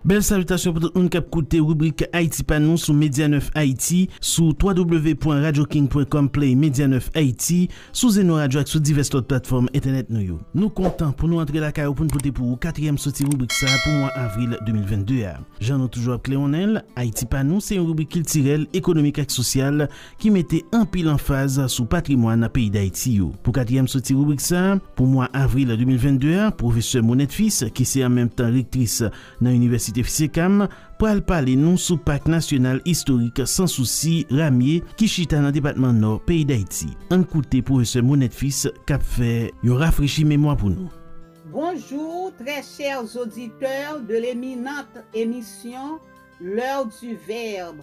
Bèl salitasyon pou tout moun k ap koute ribrik Ayiti pa nou sou Media 9 Ayiti, sou www.radioking.com play Media 9 Ayiti, sou Zeno Radio ak sou divès lòt platfòm entènèt nou yo. Nou kontan pou nou antre lakay ou pou n pote pou ou katriyèm soti ribrik sa pou mwa avril 2022 a. Jan nou toujou ap klewonnen l, Ayiti pa nou se yon ribrik kiltirèl, ekonomik ak sosyal ki mete anpil anfaz sou patrimwàn peyi Dayiti yo. Pou katriyèm soti ribrik sa, pou mwa avril 2022 a, pwofesè Monette Fils, ki se an menm tan rektris nan inivèsite FCCAM, pral pale nou sou Pak Nasyonal Istorik Sans Souci Ramye ki chita nan depatman Nò peyi Dayiti. Ann koute pwofesè Monette Fils k ap fè yon rafrechi memwa pou nou. Bonjour très chers auditeurs de l'eminente émission L'heure du verbe.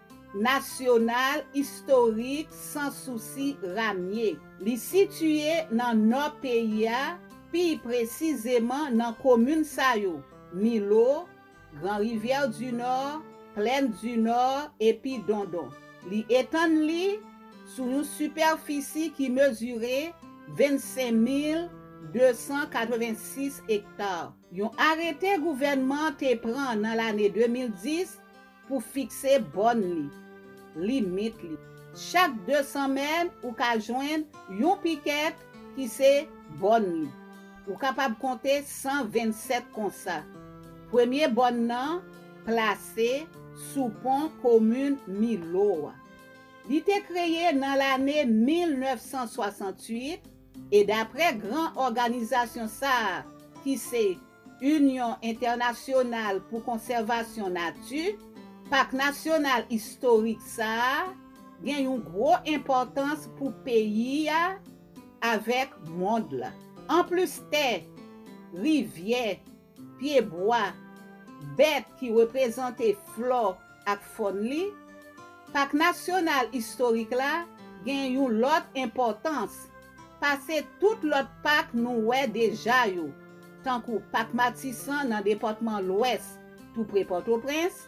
Nasyonal istorik Sans Souci Ramye. Li sitiye nan nò peyi a, pi presizeman nan komin sa yo, Milo, Grand Rivière du Nord, Plaine du Nord epi Dondon. Li etann li sou yon sipèfisi ki mezire 25,286 ekta. Yon arete gouvènman te pran nan lane 2010 Pou fikse bòn li, limit li. Chak 200 mèn ou ka jwenn yon pikèt ki se bòn li. Ou kapab konte 127 konsa. Premye bòn nan plase sou pon komin Milo a. Li te kreye nan lane 1968 e daprè gran òganizasyon sa a ki se. Inyon Entènasyonal pou Konsèvasyon Nati, Pak Nasyonal Istorik sa a gen yon gwo enpòtans pou peyi a avèk mond la. Anplis tè, rivyè, pyebwa, bèt ki reprezante flò ak fòn li, Pak Nasyonal Istorik la gen yon lòt enpòtans pase tout lòt pak nou wè deja yo. tankou Pak Matisan nan depatman Lwès tou pre Pòtoprens,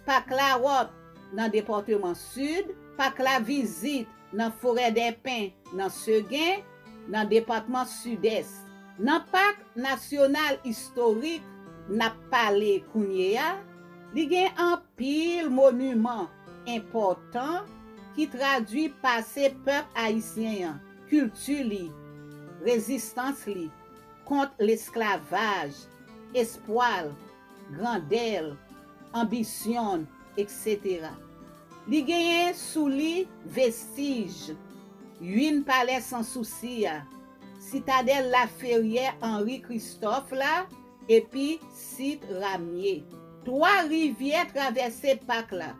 Pak Lawòt nan depatman Sid, Pak Lavizit nan Forèdèpen nan Segen nan depatman Sidès. Nan Pak Nasyonal Istorik n ap pale kounye a, li gen anpil moniman enpòtan ki tradui pase pèp ayisyen an. kilti li, rezistans li kont lesklavaj, espwa l, grandè l, anbisyon l, eksetera. Li genyen sou li vestij ynn palè Sansousi a, sitadèl Laferyè Anri Kristòf la epi sit Ramye. Twa rivyè travèse pak la,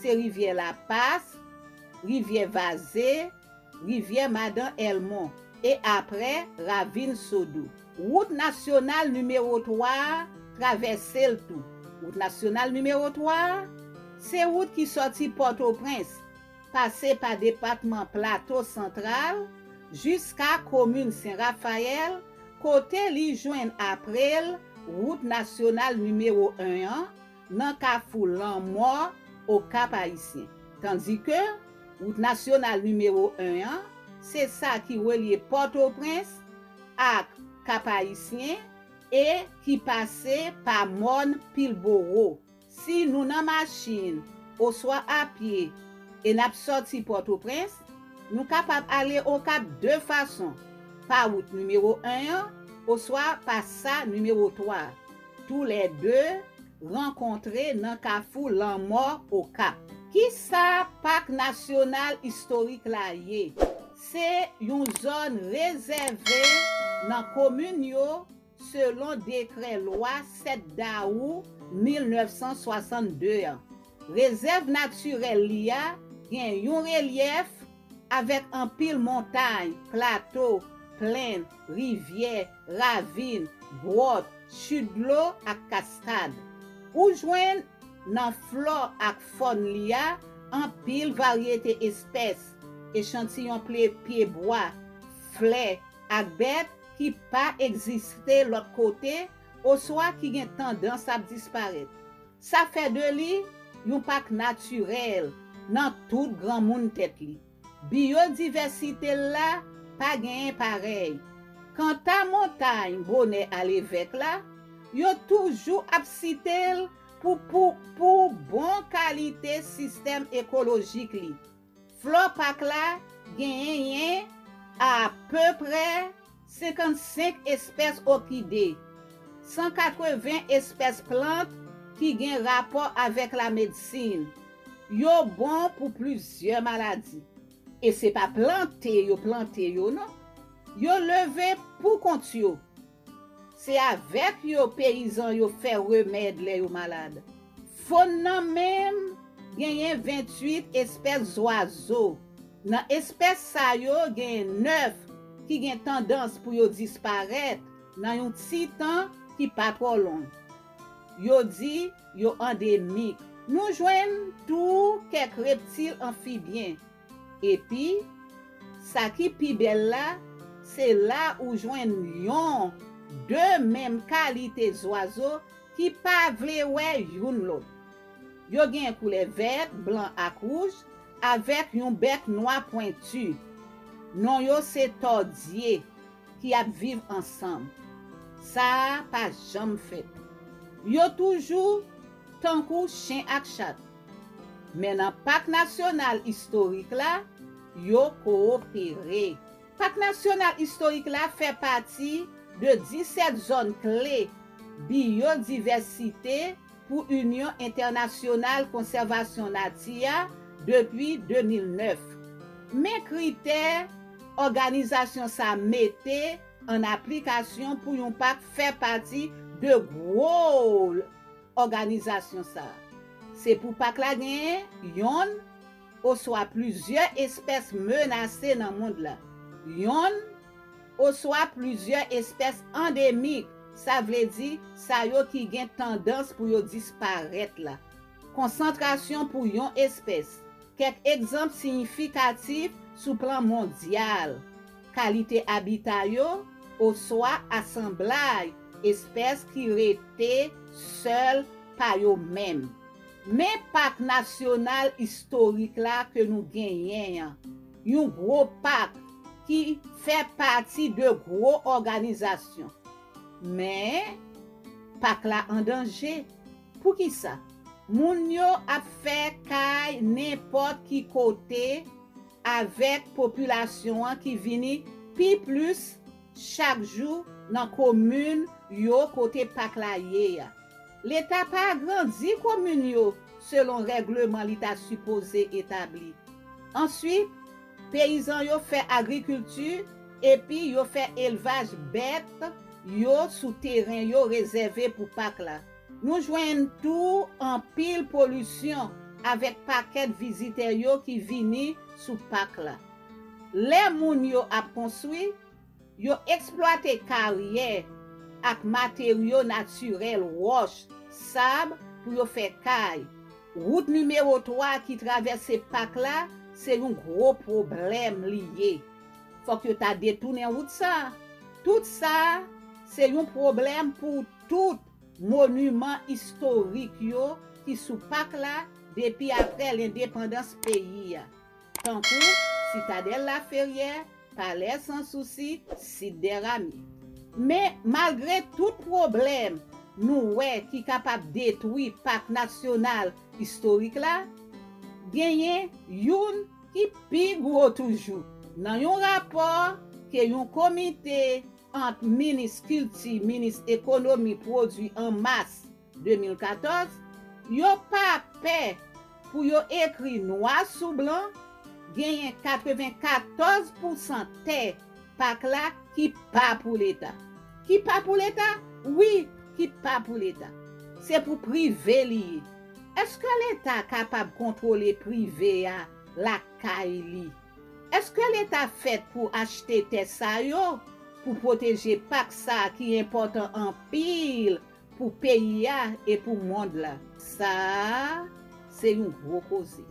se rivyè Lapas, rivyè Vaze, Rivyè Madan Èlmon, e apre, Ravin Sodou. Wout nasyonal nimewo 3 a travèse l tou. Wout nasyonal nimewo 3 a, se wout ki sòti Pòtoprens, pase pa depatman Plato Santral, jiska komin Sen Rafayèl, kote li jwenn apre l wout nasyonal nimewo 1 an, nan kafou lanmò Okap Ayisyen. Tandike, wout nasyonal nimewo 1 an, se sa ki relye Pòtoprens ak Kap Ayisyen e ki pase pa mòn Pilboro. Si nou nan machin oswa apye e n ap sòti Pòtoprens, nou kapab ale Okap de fason, pa wout nimewo 1 an oswa pa sa nimewo 3 a. Tou lè 2 rankontre nan kafou lanmò Okap. Kisa Pak Nasyonal Istorik la ye? Se yon zòn rezève nan komin yo selon dekrè lwa 7 dawou 1962 an. Rezèv natirèl li a gen yon relyèf Avèk anpil montay, plato, plenn, rivyè, ravin, gwòt, chit dlo ak kaskad. Ou jwenn, nan flò ak fòn li a, anpil varyete espès, echantiyon ple pye bwa, flè, ak bèt ki pa egziste lòt kote oswa ki gen tandans ap disparèt. Sa fè de li yon pak natirèl nan tout granmoun tèt li. Biyodivèsite l la pa genyen parèy. Kanta montay bonè alevèk la, yo toujou ap site l pou pou bon kalite sistèm ekolojik li. Flore Park la genyen apeprè 55 espès òkide, 180 espès plant ki gen rapò avèk lamedsin. Yo bon pou plizyè maladi. E se pa plante yo plante yo non. Yo leve poukont yo Se avèk yo peyizan yo fè remèd lè yo malad. Fon nan menm genyen 28 espès zwazo. Nan espès sa yo genyen 9 ki gen tandans pou yo disparèt nan yon ti tan ki pa twò long. Yo di yo andemik. Nou jwenn tou kèk reptil anfibyen. Epi, sa ki pi bèl la, se la ou jwenn yon, de menm kalite zwazo ki pa vle wè youn lòt. Yo gen koulè vèt, blan ak wouj, avèk yon bèk nwa pwenti. Non yo se tòdye ki ap viv ansanm. Sa a pa janm fèt. Yo toujou tankou chen ak chat. Men nan Pak Nasyonal Istorik la, yo kowopere. Pak Nasyonal Istorik la fè pati de 17 zòn kle biyodivèsite pou Inyon Entènasyonal Konsèvasyon Nati a depi 2009. Men kritè òganizasyon sa mete an aplikasyon pou yon pak fè pati de gwo. òganizasyon sa a. Se pou pak la genyen yonn oswa plizyè espès menase nan mond la, yonn oswa plizyè espès andemik, sa vle di sa yo ki gen tandans pou yo disparèt la. Konsantrasyon pou yon espès. Kèk egzanp siyifikatif sou plan mondyal. kalite abita yo, oswa asanblay espès ki rete sèl pa yo menm. Men Pak Nasyonal Istorik la ke nou genyen an, yon gwo pak ki. Fè pati de gwo òganizasyon. Men, pak la an danje. Poukisa? Moun yo ap fè kay nenpòt ki kote. avèk popilasyon an ki vini pi plis chak jou nan komin yo kote pak la ye a. Leta pa agrandi komin yo selon règleman li ta sipoze etabli. Answit, peyizan yo fè agrikilti epi yo fè elvaj bèt yo sou teren yo rezève pou pak la. Nou jwenn tou anpil polisyon avèk pakèt vizitè yo ki vini sou pak la. Lè moun yo ap konstwi, yo eksplwate karyè ak materyo natirèl wòch, sab pou yo fè kay. Wout nimewo 3 ki travèse pak la se yon gwo pwoblèm li ye. Fòk yo ta detounen wout sa. Tout sa se yon pwoblèm pou tout. Moniman istorik yo ki sou pak la depi aprè lendepandans peyi a, tankou Sitadèl Laferyè, Palè San Sousi, Sit dè Rami. Men, malgre tout pwoblèm nou wè ki kapab detwi pak nasyonal istorik la, genyen youn ki pi gwo toujou. Nan yon rapò ke yon komite ant Minis Kilti, Minis Ekonomi Pwodui an Mas 2014, yo pa pè pou yo ekri nwa sou blan genyen 94 pousan tè Pak la ki pa pou Leta. Ki pa pou Leta? Wi, ki pa pou Leta. Se pou prive li ye. Eske Leta kapab kontwole prive a lakay li? Eske leta fèt pou achte tè sa yo pou pwoteje pak sa ki enpòtan anpil pou peyi a e pou mond la? Sa a se yon gwo koze.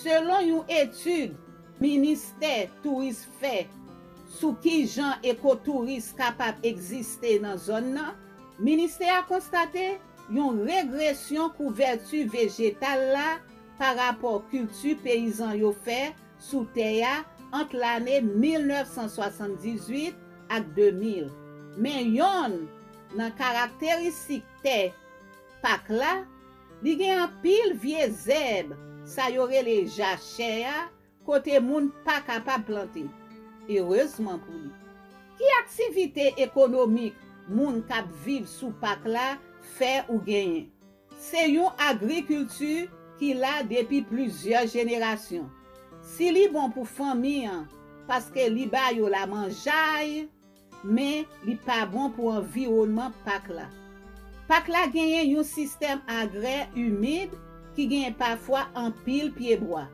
Selon yon etid ministè touris fè sou kijan ekotouris kapab egziste nan zòn nan, ministè a konstate yon regresyon kouvèti vejetal la pa rapò kilti peyizan yo fè sou tè a ant lane 1978 ak 2000. Men yonn nan karakteristik tè Pak la, li gen anpil vye zèb sa yo rele jachè a kote moun pa kapab plante. Erezman pou li. Ki aktivite ekonomik moun k ap viv sou Pak la fè ou genyen? Se yon agrikilti ki la depi plizyè jenerasyon. Si li bon pou fanmi an paske li ba yo lamanjay, men li pa bon pou anviwònman pak la. Pak la genyen yon sistèm agrè imid ki genyen pafwa anpil pyebwa.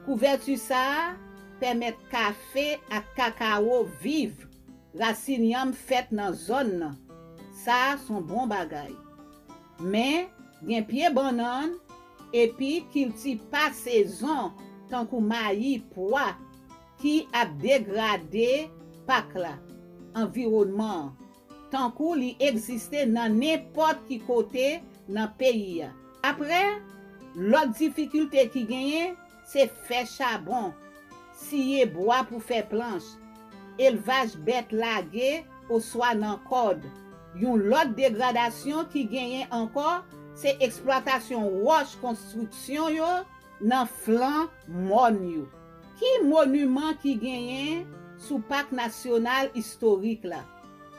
Kouvèti sa a pèmèt kafe ak kakawo viv. Rasin yanm fèt nan zòn nan. Sa a s on bon bagay. Men, gen pye bannann epi kilti pa sezon tankou mayi, pwa, ki ap degrade pak la, anviwònman an, tankou li egziste nan nenpòt ki kote nan peyi a. Apre, lòt difikilte ki genyen, Se fè chabon, siye bwa pou fè planch, elvaj bèt lage oswa nan kòd. Yon lòt degradasyon ki genyen ankò se eksplwatasyon wòch konstriksyon yo nan flan mòn yo. Ki moniman ki genyen sou Pak Nasyonal Istorik la?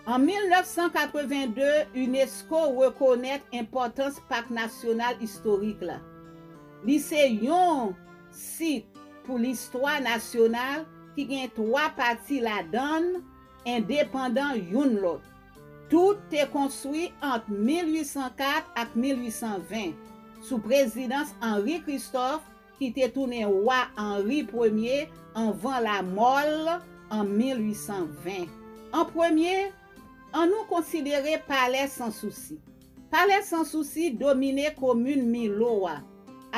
An 1982, unesco rekonèt enpòtans Pak Nasyonal Istorik la. Li se yon sit pou listwa nasyonal ki gen twa pati ladan l endepandan youn lòt. Tout te konstwi ant 1804 ak 1820, sou prezidans Henri Christophe ki te tounen wa Henri Premye anvan lamò l an 1820. An premye, annou konsidere Palè Sansousi. Palè San Sousi domine komin Milo a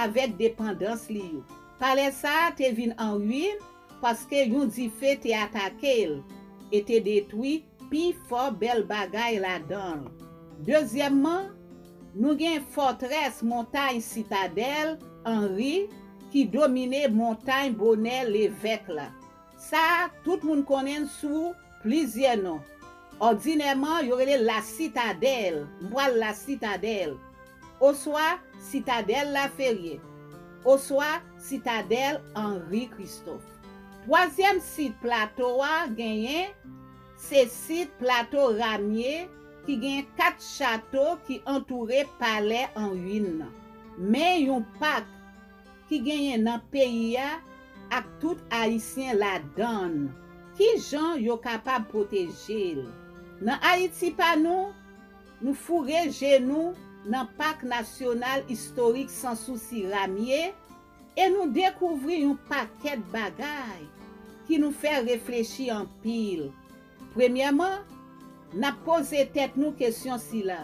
avèk depandans li yo. Palè sa a te vin an ruin paske yon dife te atake l e te detwi pi fò bèl bagay ladan l. Dezyèmman, nou gen fòtrès montay Sitadèl Anri ki domine montay Bonè Levèk la. Sa a, tout moun konnen l sou plizyè non. Òdinèman, yo rele l La Sitadèl, M pral La Sitadèl, oswa Sitadèl Laferye, oswa Sitadèl Henri Christophe. Twazyèm sit Plato a genyen, se sit Plato Ramye ki genyen kat chato ki antoure palè an ruin nan, men yon pak. ki genyen nan peyi a ak tout Ayisyen ladan l, ki jan yo kapab pwoteje l? Nan Ayiti pa nou, nou foure je nou nan Pak Nasyonal Istorik Sansousi Ramye e nou dekouvri yon pakèt bagay ki nou fè reflechi anpil. Premyèman, n ap poze tèt nou kesyon sila,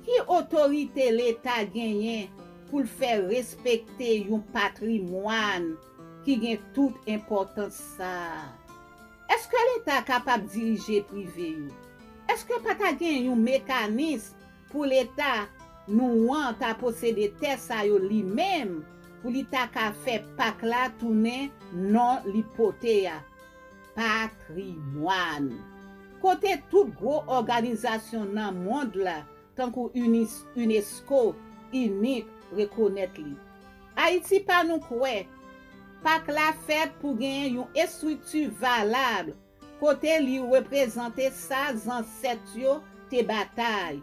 Ki otorite Leta genyen pou l fè respekte yon patrimwàn ki gen tout enpòtans sa a? Èske Leta kapab dirije prive yo? Èske pa ta gen yon mekanism pou Leta nou an ta posede tè sa yo li menm pou li ta ka fè pak la tounen non li pote a? Patrimwàn. Kote tout gwo òganizasyon nan mond la tankou unesco, UNIC rekonèt li. Ayiti pa nou kwè Pak la fèt pou genyen yon estrikti valab kote li reprezante sa zansèt yo te batay,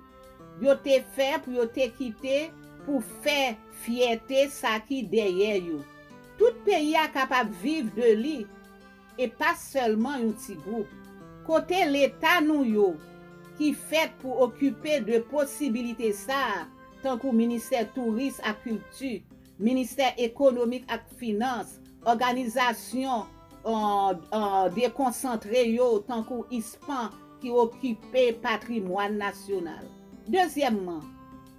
yo te fè pou yo te kite pou fè fyète sa ki dèyè yo. Tout peyi a kapab viv de li e pa sèlman yon ti gwoup. Kote leta nou yo ki fèt pou okipe de posibilite sa a tankou ministè touris ak kilti, ministè ekonomik ak finans, òganizasyon dekonsantre yo tankou ISPAN ki okipe patrimwàn nasyonal. Dezyèmman.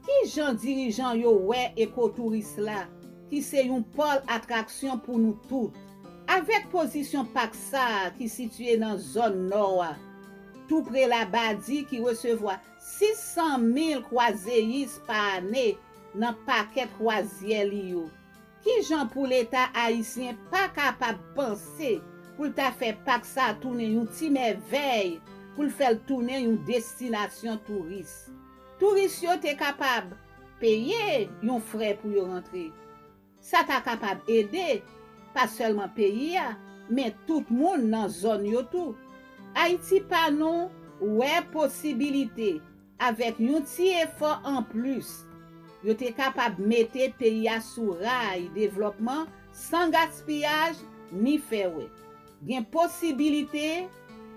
Ki jan dirijan yo wè ekotouris la, ki se yon pòl atraksyon pou nou tout? Avèk pozisyon pak sa a ki sitiye nan zòn nò a, tou pre Labadi ki resevwa 600 mil kwazeyis pa ane nan pakèt kwazyè li yo, ki jan pou Leta ayisyen pa kapab panse pou l ta fè pak sa a tounen yon ti mèvèy, pou l fè l tounen yon destinasyon touris? Touris yo te kapab peye yon frè pou yo rantre. Sa ta kapab ede, pa sèlman peyi a, men tout moun nan zòn yo tou. Ayiti pa nou wè posibilite, avèk yon ti efò anplis, yo te kapab mete peyi a sou ray devlòpman san gaspiyaj ni fè wè. Gen posibilite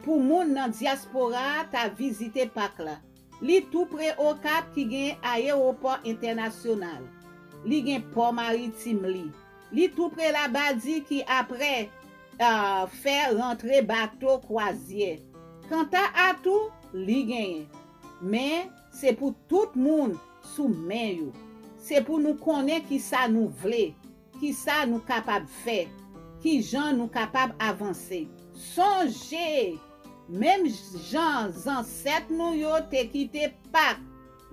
pou moun nan dyaspora ta vizite pak la. Li tou pre Okap ki gen ayewopò entènasyonal. Li gen pò maritim li. Li tou pre Labadi ki apre fè rantre bato kwazyè. Kanta atou, li genyen. Men, se pou tout moun sou men yo. Se pou nou konnen kisa nou vle. Kisa nou kapab fè? Kijan nou kapab avanse? Sonje! Menm jan zansèt nou yo te kite pak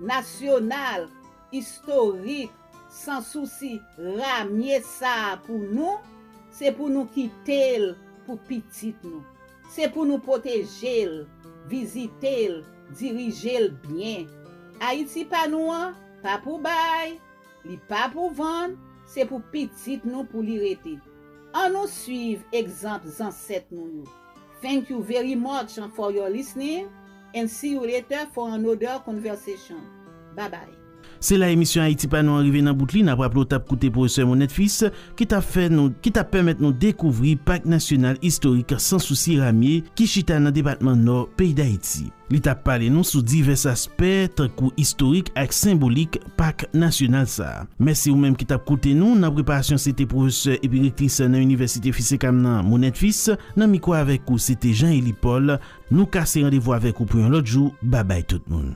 nasyonal istorik san sousi ramye sa a pou nou, se pou nou kite l pou pitit nou. Se pou nou pwoteje l, vizite l, dirije l byen. Ayiti pa nou an pa pou bay! Li pa pou vann, se pou pitit nou pou li rete. An nou swiv egzanp zansèt nou yo. Thank you very much for your listening and see you later for another conversation. Bye bye. Se la emisyon Ayiti pa nou an rive nan bout li. N ap raple w t ap koute Pwofesè Monette Fils ki t ap fè nou ki t ap pèmèt nou dekouvri Pak Nasyonal Istorik Sansousi Ramye ki chita nan depatman Nò peyi Dayiti. Li t ap pale nou sou divès aspè tankou istorik ak senbolik Pak nasyonal sa a. Mèsi ou menm ki t ap koute nou nan preparasyon se te pwofesè epi rektris nan inivèsite Fisekam nan Monette Fils nan mikwo avèk ou se te Jean Elie Paul nou kase randevou avèk ou pou yon lòt jou babay tout moun.